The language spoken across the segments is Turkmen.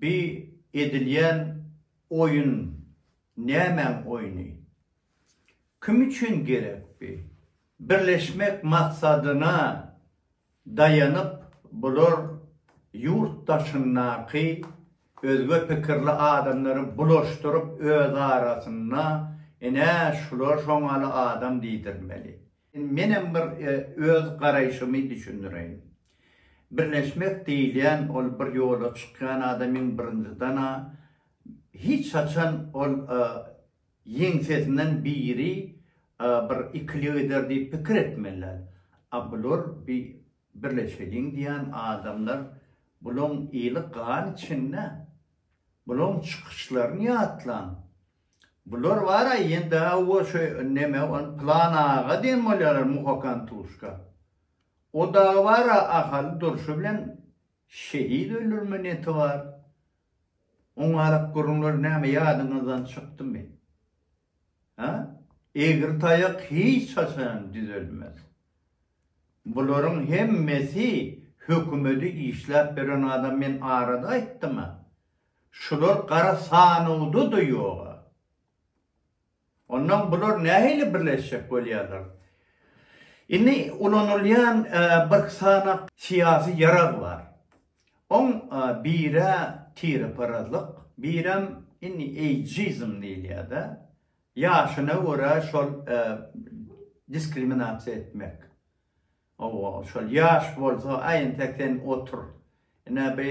Bi edilýän oýun nämäň oýny? Kim üçin gerek bi? Birleşmek maksadyna daýanyp bular ýurt daşyndaky özge pikirli adamlary bulaşdyryp öz arasynda ine şular şoňaly adam diýdirmeli. Menem bir öz garaýşymy düşündireýin. Birleşmek diýilýän ol bir ýola çykýan adamyň birinjidana hiç haçan ol ýeňsesinden biri bir ikilik eder diýip pikir etmeli däl. A bular bi birleşeliň diýýän adamlar bulaň eli gan içinde. Bulaň çykyşlaryny ýatlaň. Bular bara ýende awo şu neme ol Pylan aga diýen bolýarlar muhakan tuşka. O dagy bara Ahaly durşy bilen şehit öldürme neti bar. Oň arak gürrüňleri näme ýadyňyzdan çykdymy? Hä? Egri taýak hiç haçan düzelmez. Bularyň hemmesi hökümedi işläp beren adam men arada aýtdyma. Şular gara sanawda-da ýog-a. Ondan bular nähili birleşjek bolýarlar? Indi ulanylýan bir sany syýasy ýarag bar. Oň biri tireparazlyk, birem indi eýjizm diýilýär-de. Ýaşyna görä şol diskriminasiýa etmek. Hawa, şol ýaş bolsa, aý entek sen otur. Ine bi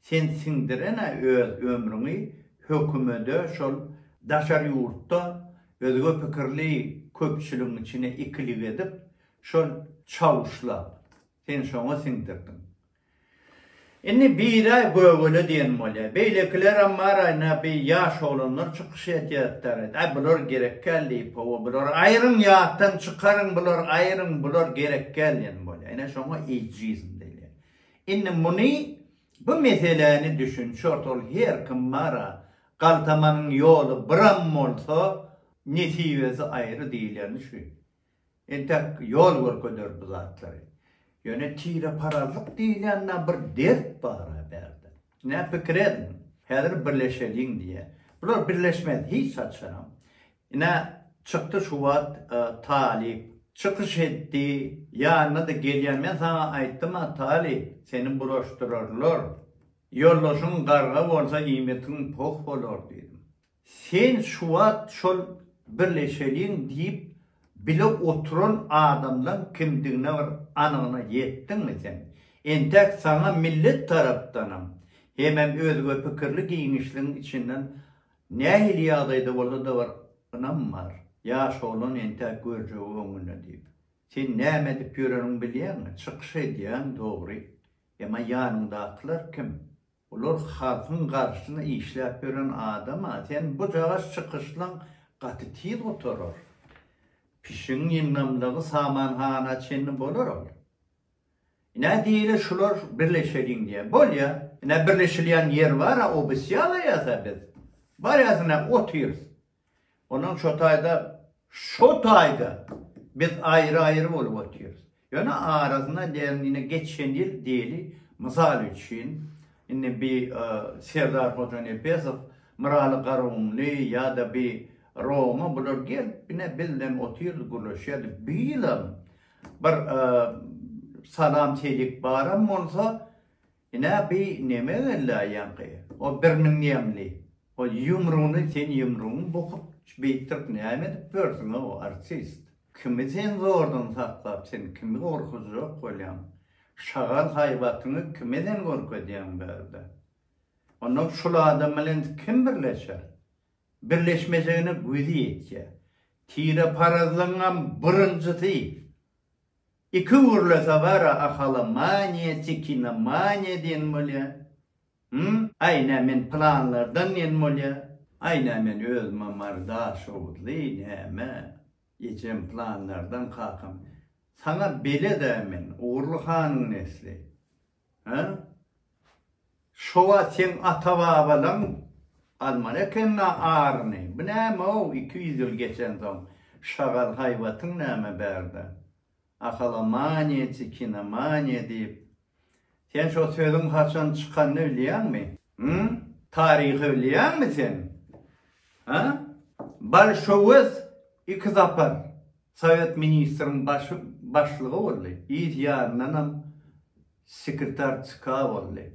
Sen siňdirene öz ömrüňi hökümede şol daşary ýurtda özge pikirli köpçüligiň içine ikilik edip şol çawuşlap sen şoňa siňdirdiň. Indi biraý gögele diýen bolýa. Beýlekilerem bar aýna bi ýaş oglanlar çykyş edýärtdar. Aý bular gerekgäl diýip hawa bular aýryň ýatdan çykaryň bular aýryň bular gerekgäl diýen bolýa. Ine şoňa eýjizm diýilýä. Indi muny bu meseläni düşünçi ortaly her kim bara, galtamanyň ýoly biram bolsa, nesibesi aýry diýileni şu. Entek ýol görkeder bu zatlary. Ýöne tireparazlyk diýilýän na bir dert bara bärde. Nä pikir ediň, häzir birleşeliň diýýä. Bular birleşmez hiç haçanam. Ine, çykdy şu wagt Talyp. Çykyş etdi. Ýanyna-da gelýär. Men saňa aýtdym-a, Talyp, seni buraşdyrarlar. Ýoldaşyň garga bolsa, iýmitiň poh bolar diýdim. Sen şu wagt şol birleşeliň diýip bile oturan adamlaň kimdigine bir anygyna ýetdiňmi sen? Entek saňa millet tarapdanam, hemem özgepikirli giňişligiň içinden Nähili ýagdaýda bolsa-da bir ynam bar, ýaş oglan entäk görjegi öňünde diýip. Sen näme edip ýöreniňi bilýäňmi? Çykyş edýäň, dogry. Emma ýanyňdakylar kim? Olar halkyň garşyna işläp ýören adam-a. Sen bujagaç çykyşlaň gaty tiz gutarar. Pişigiň ynamlygy samanhana çenli bolar ol. Ine diýeli şular birleşeliň diýýä. Bolýa. Ine birleşilýän ýer bar-a obysýa alaýas-a biz. Barýas ine otyrys. Onuň şo taýda şo taýda biz aýry-aýry bolup otyrys. Ýöne arasynda däniň ine geçen ýyl diýeli mysal üçin indi bi Serdar Hojanepesow, Myraly Garagumly ýa-da bi Roma bular gelip ine biz bilen otyrdy gürleşýärdi. Bu ýylam Bir salam çelik baram bolsa ine bi neme gellaýaňky o birniň ýemli o ýumruny sen ýumruň bukup beýtdirip näme edip ýörsiň o artist kimi sen zordan saklap sen kimi gorkuzjak bolýaň şagal haýbatyňy kime sen görkezýäň bärde onda şul adam bilen kim birleşer birleşmejegine güýji ýetýär. Tireparazlygyňam birinjisi, iki gürlese bara ahalomaniýa, tikinomaniýa diýen bolýar. Hum, aý nä men planlardan diýen bolýar. Aý nä men özüme Mary Daşoguzly, näme, ejem planlardan, kakam. Saňa bele-dä men, Ogurly hanyň nesli. Hä? Şo wagt seň ata-babalaň almaly ekeni-ä aryny. Bu näme-ow, iki ýüz ýyl geçensoň, şagal haýbatyň näme bärde? Ahalomaniýa, çekinomaniýa diýip. Sen şo sözüň haçan çykanyny bilýäňmi? Hüm? Taryhy bilýäňmi sen? Hä? Bolşewik iki sapar Sowet ministriň başy başlygy boldy, yz ýanyndanam sekretar CK boldy.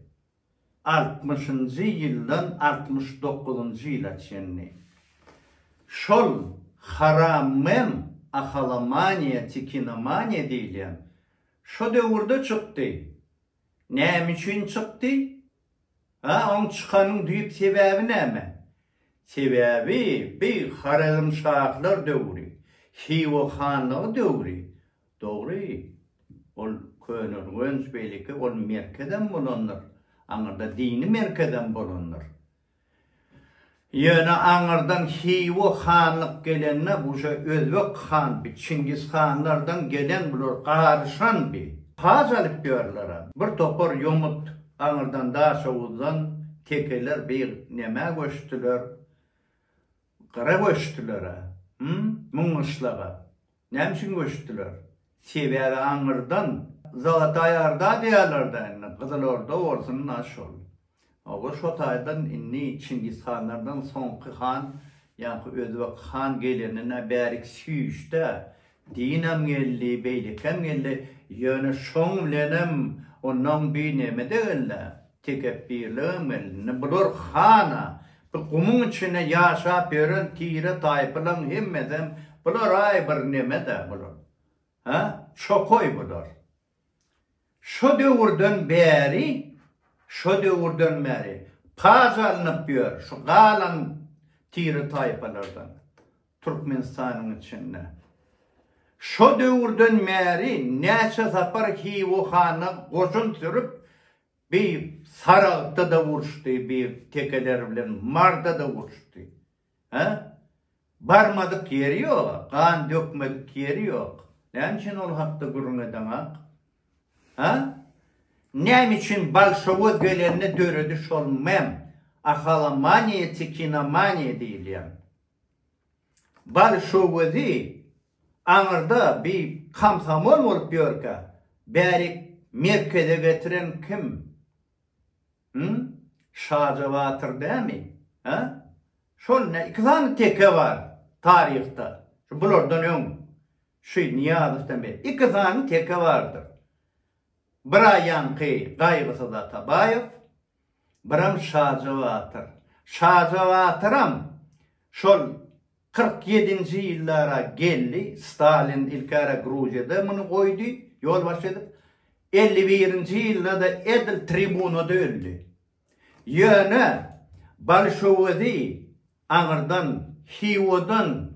Altmyşynjy ýyldan altmyş dokuzynjy ýyla çenli şol haramem ahalomaniýa, tikinomaniýa diýilýän şo döwürde çykdy. Näme üçin çykdy? A oň çykanyň düýp sebäbi näme? Sebäbi bi Horezmşahlar döwri, Hywa hanlygy döwri. Dogry, ol köneürgenç beýleki ol merkezem bolandyr, aňyrda dini merkezem bolandyr. Ýöne aňyrdan Hywa hanlyk gelende bu şo Özbek handy, Çingiz hanlardan gelen bular garyşandy. Paç alyp ýörlerä. Bir topar ýomut aňyrdan Daşoguzdan tekeler bir nämä göçdüler? Gyra göçdülerä. Hum, Müňgyşlaga. Näme üçin göçdüler? Sebäbi aňyrdan Zalataý Orda diýýärler-dä indi, Gyzyl Orda bolsun-da şol. Oba şo taýdan indi Çingiz hanlardan soňky han ýaňky Özbek han gelenine bärik süýşdä, diýnem geldi, beýlekem geldi, ýöne şoň bilenem onnoň bineme-de geldi-ä, tekepbirligem geldi. Indi bular han-a, Bu gumuň içine ýaşap ýören tire taýpylaň hemmesem bularay bir nemedä bular. Hä? Çokoý bular. Şo döwürden bäri, şo döwürden bäri paç alnyp ýör şu galan tire taýpalardan Türkmenistanyň içinde. Şo döwürden bäri näçe sapar Hiwo hana goşun sürüp Bir saragtda-da uruşdy, bir tekeler bilen marda-da uruşdy. Hä? Barmadyk ýeri ýok-a, gan dökmedik ýeri ýok. Näme üçin ol hakda gürrüň edeňok? Hä? Näme üçin bolşowoz gelende döredi şol mem, ahalomaniýa, tikinomaniýa diýilýän? bolşowyzy aňyrda bi komsomol bolup ýörkä bärik merkeze getiren kim hum şaja batyr dämi hä şol ne iki sany teke bar taryhda şu bulardan öň şu nyýazow dämi iki sany teke bardyr Biraýanky Gaýgysyz Atabaýew, biram Şaja batyr. Şaja batyram şol kyrk ýedinji ýyllara geldi, Stalin ilkäre Gruziýada muny goýdy, ýolbaşçy edip. Elli birinji ýylda-da edil tribunada öldi. Ýöne bolşewizi aňyrdan, Hiwodan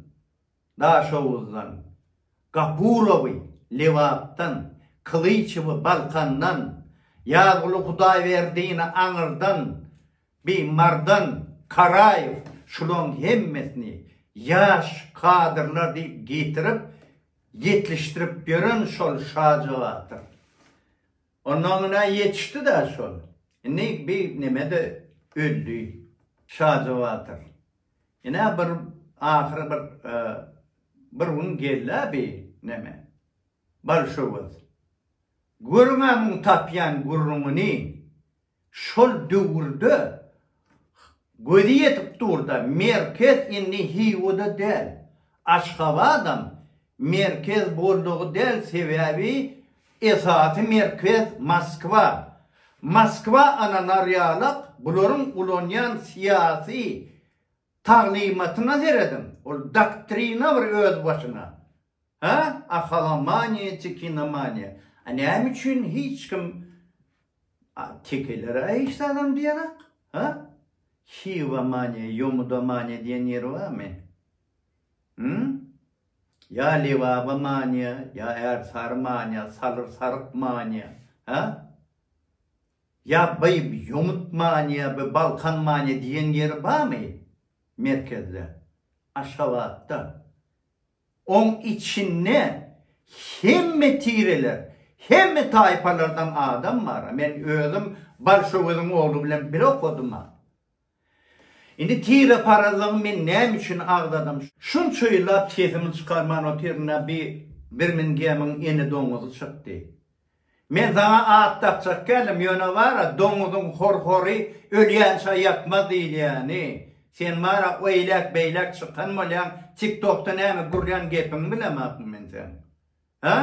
Daşoguzdan, Gapurowy, Lebapdan, Kylyçowy, Balkandan, Ýazguly Hudaýberdini, Aňyrdan, bi, Mardan, Karaýew, şulaň hemmesini ýaş kadrlar diýip getirip, ýetlişdirip ýören şol şajagatyr. Ondan günä ýetişdi-dä şol. Indi bi neme-de öldi şajagatyr. Ine bir ahyry bir bir gün geldi-ä bi neme. Bolşewik. Görüň-ä muň tapýan gürrüňini. Şol döwürde gözi ýetip dur-da, merkez indi Hiwa-da däl, Aşgabadam Merkez boldugy däl sebäbi esasy merkez Moskwa. Moskwa ananarýalak bularyň ulanýan syýasy taglymatyna serediň ol doktrina bir öz başyna ha ahalomaniýa çekinomaniýa a näme üçin hiç kim a tekelere hiç zadam diýerak ha hivomaniýa ýomudomaniýa diýen ýeri barmy. Hum? Ýa Lebaba manyýa, ýa Ärsary manyýa, Salyr saryk manyýa, hä? Ýa by ýomut manyýa, by Balkan manyýa diýen ýeri barmy merkezde, Aşgabatda? Oň içinde hemme tireler, hemme taýpalardan adam bar-a. Men özüm Balşöweziň ogly bilen bile okadym-a. Indi tireparazlygy men näme üçin agzadym? Şunça ýyllap sesimi çykarman otyryn-a bi Birmingemiň ene doňuzy çykdy. Men saňa at dakjak däldim, ýöne bar-a doňuzyň hor-hory ölýänçä ýatmaz diýilýäni, sen bar-a oýläk-beýläk çykan bolýaň, tiktokda näme gürlän gepiňi bilemokmy men seň? Hä?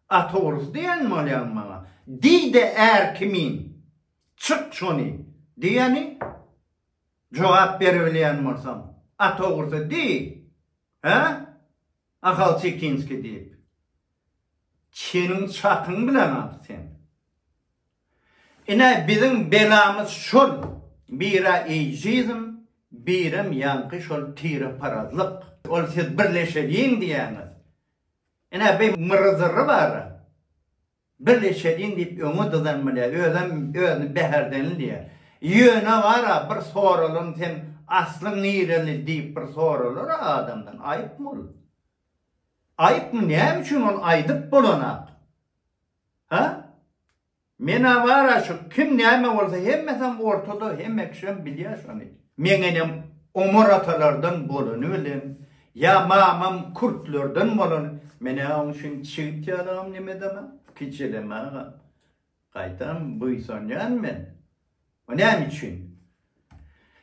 At ogrusy diýen bolýaňmy maňa? Diý-de är kimin Çyk şony! diýeni jogap beribilýän bolsaň, at ogrusy diý, hä? Ahal Çekinskiý diýip, çeniň çakyň bilen at sen! Ine, biziň belamyz şol, bir-ä eýjizm, birem ýaňky şol tireparazlyk. Ol siz birleşeliň diýýäňiz. Ine, bi myryzyry bar-a. Birleşeliň diýip öňe dyzan bile özem özüni bäherdenliýär. Ýöne bar-a bir soralyň sen aslyň nireli diýip bir soralar-a adamdan, aýypmy ol? Aýypmy näme üçin ol aýdyp bolanak? Ha? Men-ä bar-a şu kim näme bolsa hemmesem ortada hemme kişem bilýär şony. Meňenem Omar atalardan bolany bilen, ýa mamam kürtlerden bolan, men-ä oň üçin çigit ýalagam nemedemem, kijelemegem. Gaýtam buýsanýan men. O näme üçin?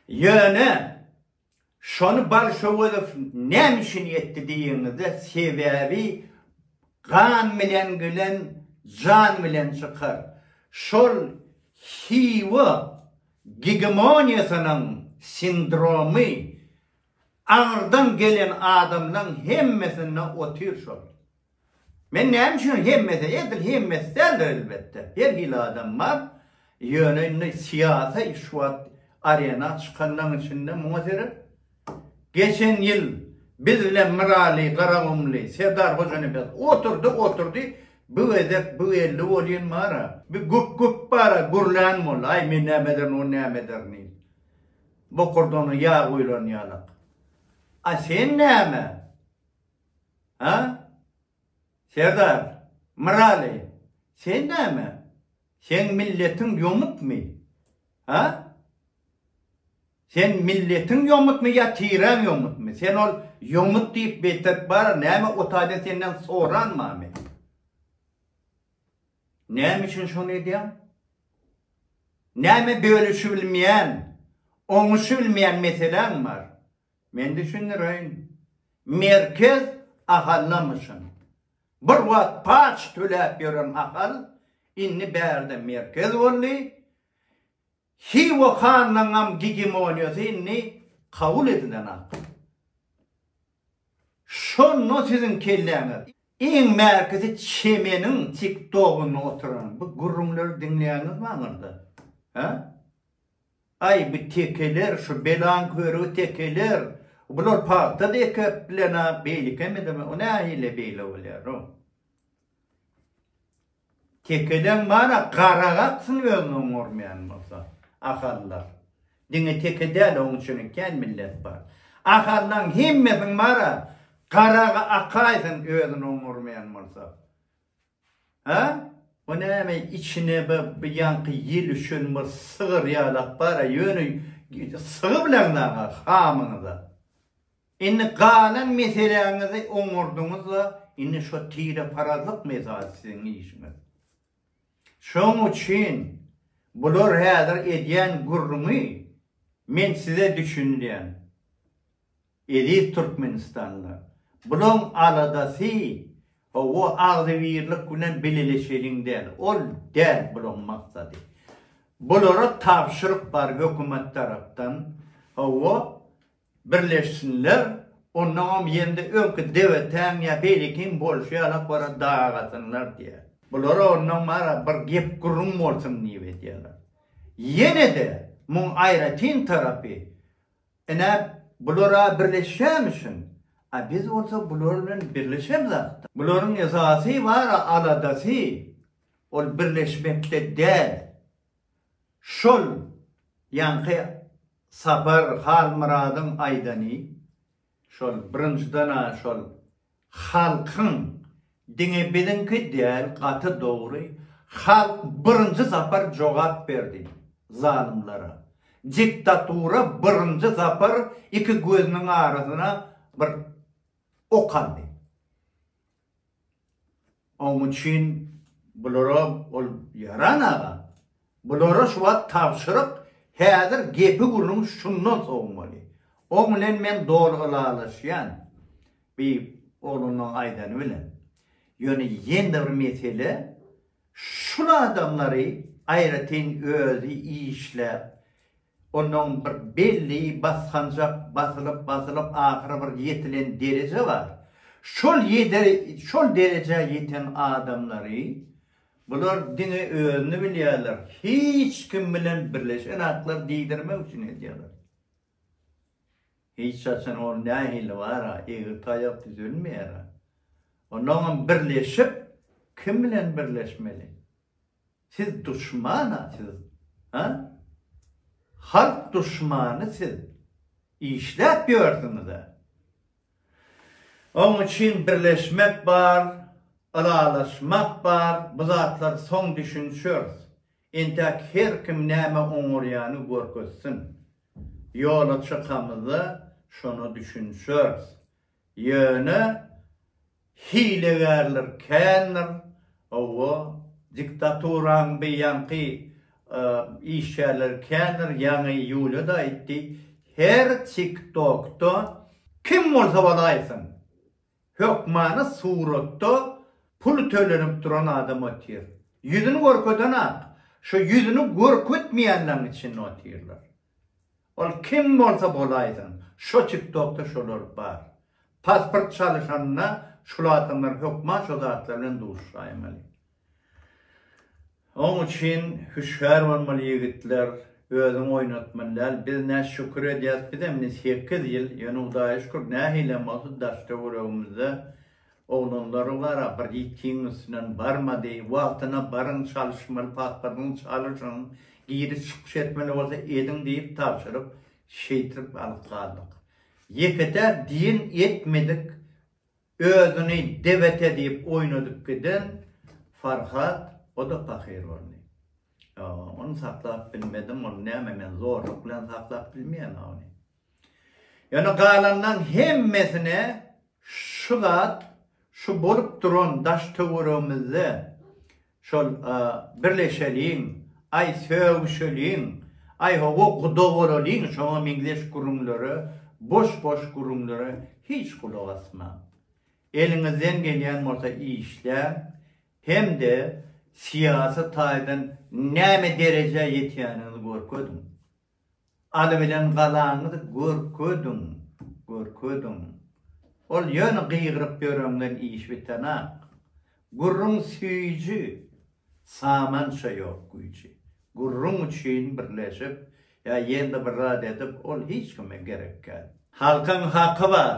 Ýöne, şony Balşowezow näme üçin etdi diýeniňizde, sebäbi gan bilen gelen jan bilen çykar. Şol Hiwa Gegemoniýasynyň sindromy aňyrdan gelen adamlaň hemmesinde otyr şol. Men näme üçin hemmesi, edil hemmesi däldir elbetde, her hili adam bar, ýöne indi syýasy şu wagt arena çykanlaň içinde muňa seret. Geçen ýyl biz bilen Myraly, Garagumly, Serdar Hojanepes oturdy, oturdy, bu gezek bu geldi bolýyn bar-a, bir güp-güp bar-a, gürlän boldy, aý men näme ederin, o näme eder nil. Bokurdana ýag guýlan ýalak. A sen näme? Ha? Serdar, Myraly, sen näme? Seň milletiň ýomutmy? Ha? Sen milletiň ýomutmy ýa tireň ýomutmy? Sen ol ýomut diýip beýtsek bar, näme o taýdan senden soranmamy? Näme üçin şony edýäň? Näme bölüşibilmeýän, oňuşybilmeýän meseläň bar? Men düşündireýin. Merkez ahallamyşyn. Bir wagt paç töläp ýören ahal indi bärde merkez boldy. Hywa hanlygyňam gegemoniýasy indi kabul edilen ak. Şonda siziň kelläňiz. Iň mäkisi çemeniň tiktogynda oturan bu gürrüňleri diňleýäňizmi aňyrda? Hä? Aý bu tekeler şu belaň körügi tekeler. Bular pagta-da ekepdiler-ä beýlekem edemok. O nähili beýle bolýar-ow? Tekeden bar-a, garak aksyn özüni oňarmaýan bolsa. Ahallar. Diňe teke däl, oň üçinem kän millet bar. Ahallaň hemmesiň bar-a, garak akaýsyn özüni oňarmaýan bolsa. Hä? Bu näme, içine bir ýaňky ýel üşen bir sygyr ýalak bar-a, ýöne sygy bileňzäň-a hamyňyz-a. Indi galan meseläňizi oňardyňyz-la, indi şo tireparazlyk mesaly siziň işiňiz. Şoň üçin bular häzir edýän gürrüňi men size düşündirýän, eziz türkmenistanlylar. Bulaň aladasy hawa agzybirlik bilen bileleşeliň däl, ol däl bulaň maksady. Bulara tabşyryk bar hökümet tarapdan, hawa, Birleşsinler, onnoňam ýerinde öňki dewetäň ýa beýlekiň bolşy ýaly akbara dagasynlar diýýär. Bulara onnoň bara bir gep-gürrüň bolsun diýip edýärler. Ýene-de muň aýratyn tarapy, ine, bular-a birleşýämişin, a biz bolsa bular bilen birleşemizakda. Bularyň esasy bar aladasy, ol birleşmekde däl, Şol ýaňky Sapar Halmyradyň aýdany, şol birinjiden-ä şol halkyň diňe biziňki däl gaty dogry, halk birinji zapar jogap berdi zalymlara, diktatura birinji zapar iki gözüniň arasyna bir ok aldy. Oň üçin bulara ol ýaran aga. Bulara şu wagt tabşyryk, häzir gepi-gürrüň şundan sowmaly. Oň bilen men doly ylalaşýan. Bi oglanlaň aýdany bilen. Ýöne ýene-de bir mesele, şul adamlary aýratyn özi işläp, Onuň bir belli basganjak basylyp basylyp ahyry bir ýetilen dereje bar. Şol ýeder şol derejä ýeten adamlary bular diňe özüni bilýärler hiç kim bilen birleşenaklar diýdirmek üçin edýärler. Hiç haçan ol nähili bara egri taýak düzelmeýära. Onuňam birleşip kim bilen birleşmeli. Siz duşmana siz ha halk duşmany siz işläp ýörsüňiza. Oň üçin birleşmek bar, ylalaşmak bar, bu zatlar soň düşünşers. Entäk her kim näme oňarýany görkezsin. Ýola çykamyzda şona düşünşers. Ýöne hilegärler kändir, hawa, diktaturaň beýanky işgärleri kändir, ýaňy Ýuliýa-da aýtdy, her TikTok-da kim bolsa bol aýtsyn, hökmany suratda pul tölenip duran adam otyr. Ýüzüni görkedenok, şo ýüzüni görkezmeýänleriň içinde otyrlar. Ol kim bolsa bolaýsyn, şo tiktokda şolar bar. Pasport çalyşanda şul adamlar hökman şo zatlar bilen duşaýmaly. Oň üçin hüşgär bolmaly ýigitler, özüň oýnatmaly däl. Biz nä şükür edýäs bizem indi sekiz ýyl, ýöne hudaýa şükür nähilem bolsa daş töweregimizde Oglanlara wara bir ýitgiň üstünden barmady. Wagtyna baryň, çalyşmaly pasportyňy çalyşyň, giriş-çykyş etmeli bolsa ediň diýip tabşyryp, şeýtrip alyp galdyk. Ýeke-tä diýen etmedik özüni debete diýip oýnadyp giden Farhat, o-da pahyr boldy. Ýok, ony saklap bilmedim, ony näme men zorluk bilen saklap bilmeýän-a ony. Ýöne galanlaryň hemmesine şu zat, şu bolup duran daş-töweregimizde şol birleşeliň, aý sögüşeliň, aý hawa guda bolalyň şoňa meňzeş gürrüňlere, boş-boş gürrüňlere hiç gulak asmaň. Eliňizden gelýän bolsa işläň hem-de syýasy taýdan näme derejä ýetýäniňizi görkeziň. Aly bilen galaňyzy görkezdiň, görkezdiň. Ol ýöne gygyryp ýöreňden iş bitenok. Gürrüň süýji, samança ýok güýji. Gürrüň üçin birleşip, ýa ýene-de bir zat edip, ol hiç kime gerekkäd. Halkyň haky bar,